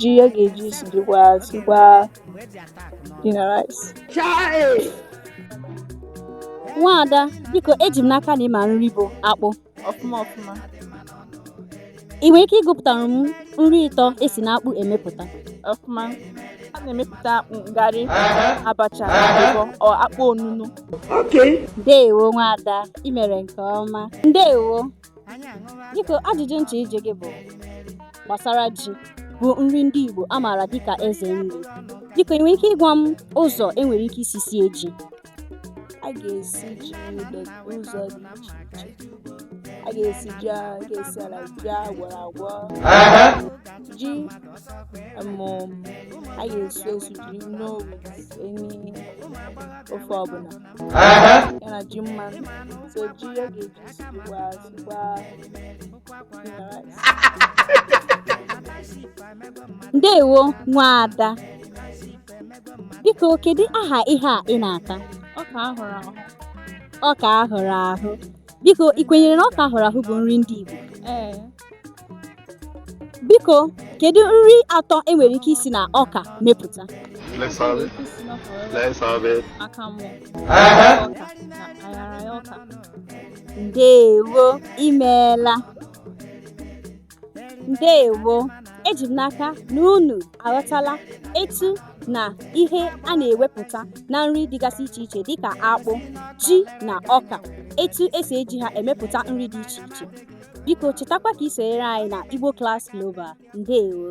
ji a ga-eji sikwa sikwa ji na rice nwaada biko eji m n'aka na ị ma nri bụ akpụ ọfụma ọfụma ị nwere ike ịgụpụtara m nri ịtọ esi na akpụ emepụta ọfụma a na-emepụta akpụ garị abacha akpụkọ ọ akpụ onunu ndewo nwaada ị mere nke ọma ndewo biko ajụjụ m chọ ịjụ gị bụ gbasara ji bụ nri ndị Igbo a maara dịka eze nri biko ị nwere ike ịgwa m ụzọ enwere ike isi sie ji a ga-esi ji n'ụzọ dị iche iche a ga-esi ji a ga-esi ala ji a gwọrọ agwọ ji a ga-esi osu ji n'oge ofe ọbụla ya na ji mmanụ so ji a ga-eji ndewo nwaada biko kedu aha ihe a ị na-ata ọka ahụrụ ahụ ọka ahụrụ ahụ biko ị kwenyere na ọka ahụrụ ahụ bụ nri ndị Igbo ee Biko, kedu nri atọ enwere ike isi na ọka mepụta? Let's have it. Let's have it. Akamụ, ọka na ayaraya ọka. Ndeewo, imeela. Ndeewo, eji m n'aka na unu aghọtala etu na ihe a na-ewepụta na nri dịgasị iche iche dịka akpụ, ji na ọka, etu esi eji ha emepụta nri dị iche iche. Biko chetakwa ka i sonyere anyị na Igbo Class Global. Ndewo!